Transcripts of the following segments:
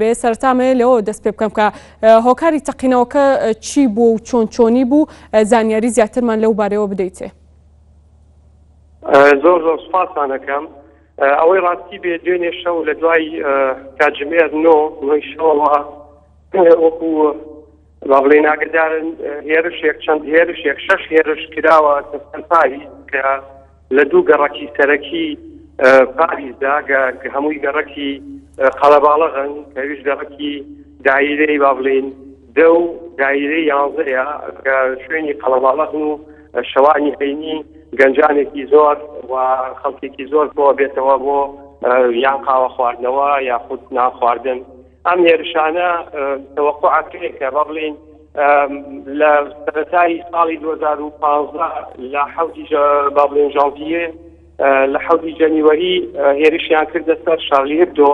بێ سەرتا مەیە لەوە دەست پێ بکەم کە هۆکاری تەقینەوەکە چی بوو و چۆن چۆنی بوو زانیاری زیاترمان لەو بارەوە بدەیتێ زۆر زۆر سپاسانەکەم ئەوەی ڕاستی بێ دوێنێ شەو لە دوای کاتژمێر نۆ نۆی شەوەوە وەکو با بڵێین ئاگدار هێرشێک چەند هێرشێک شەش هێرش کراوە پاوی کە لە دوو گەڕکی سەرەکی پاریزدا هەمووی گەڕکی قەڵەباڵەغن کەویش گەڕکی دایرەی با بڵین دە و دایرە یاڵزەیە کە شوێنی قەڵەباڵەغن و شەوانی هەینی گەنجانێکی زۆر و خەڵکێکی زۆر بۆ بێتەوە بۆ یان قاوە خواردنەوە یاخود ناخواردن ئەم هێرشانە تەوەقوعەکرێکە با بڵێین لە سەرەتای ساڵی 2015 لە حوتی با بڵێن ژانتیە لە حوتی جەنیوەری هێرشیان کردە سەر شارلی هبدۆ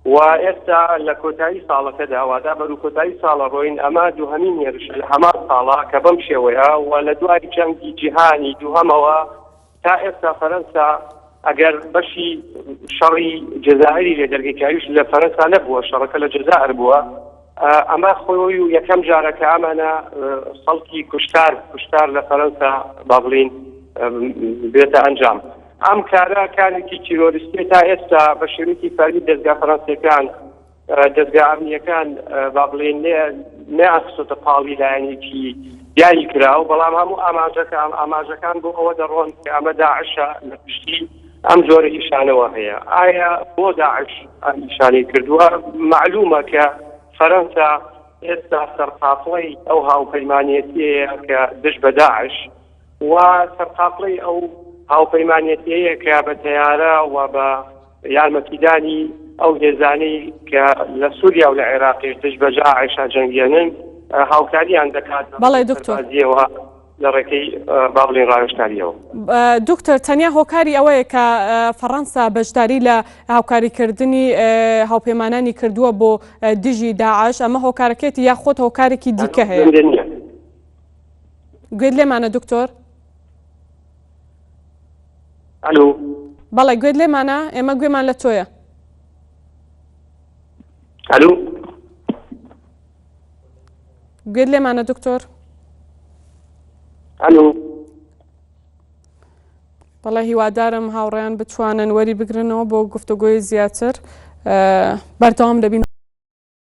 و ئێستا لە کۆتایی ساڵەکە داوادا بەرو کۆتایی ساڵە ڕۆین ئەمە دوهمین هێرش لە هەمان ساڵە کە بەم شێوەیە و لە دوای جەنگی جیهانی دوهەمەوە تا ئێستا فەرەنسا ئەگەر بەشی شەڕی جەزائری لێ دەرگی کاویش لە فەرەنسا نەبووە شەڕەکە لە جەزائر بووە ئەمە خۆی و یەکەم جارە کە ئەمانە خەڵکی کوشتار کوشتار لە فەرەنسا با بڵین بێتە ئەنجام ئەم کارە کارێکی تیرۆریستی تا ئێستا بە شێوەیەکی فەرمی دەستگا فەرەنسیەکان دەزگا ئەمنییەکان با بڵێن نەیان خستۆتە پاڵی لایەنێکی دیاری کراوە، بەڵام هەموو ئاماژەکان ئاماژەکان بۆ ئەوە دەڕۆن کە ئەمە داعشە لە پشتی ئەم جۆرە ئیشانەوە هەیە. ئایا بۆ داعش ئەم ئیشانەی کردووە؟ مەعلوومە کە فەرەنسا ئێستا سەرقافڵەی ئەو هاوپەیمانێتییەیە کە دژ بە داعش، و سەرقافڵەی ئەو هاوپەیمانێتیەیە کە بە تەیارە و بە یارمەتیدانی ئەو هێزانەی کە لە سووریا و لە عێراقیش دژ بە ژاعش ئەجەنگێنن هاوکاریان دەکات بەڵێ دکتۆر. بەڕێزیەوە لە ڕێکەی با بڵێین ڕاوێژکارییەوە. دکتۆر تەنیا هۆکاری ئەوەیە کە فەڕەنسا بەشداری لە هاوکاریکردنی هاوپەیمانانی کردووە بۆ دژی داعش ئەمە هۆکارەکەیەتی یاخود هۆکارێکی دیکە هەیە؟ گوێت لێمانە دکتۆر؟ ئەلو بەڵێ گوێت لێمانە ئێمە گوێمان لە تۆیە ئەلو گوێت لێمانە دکتۆر ئەلو بەڵێ هیوادارم هاوڕێیان بتوانن وەری بگرنەوە بۆ گفتوگۆی زیاتر بەردەوام دەبین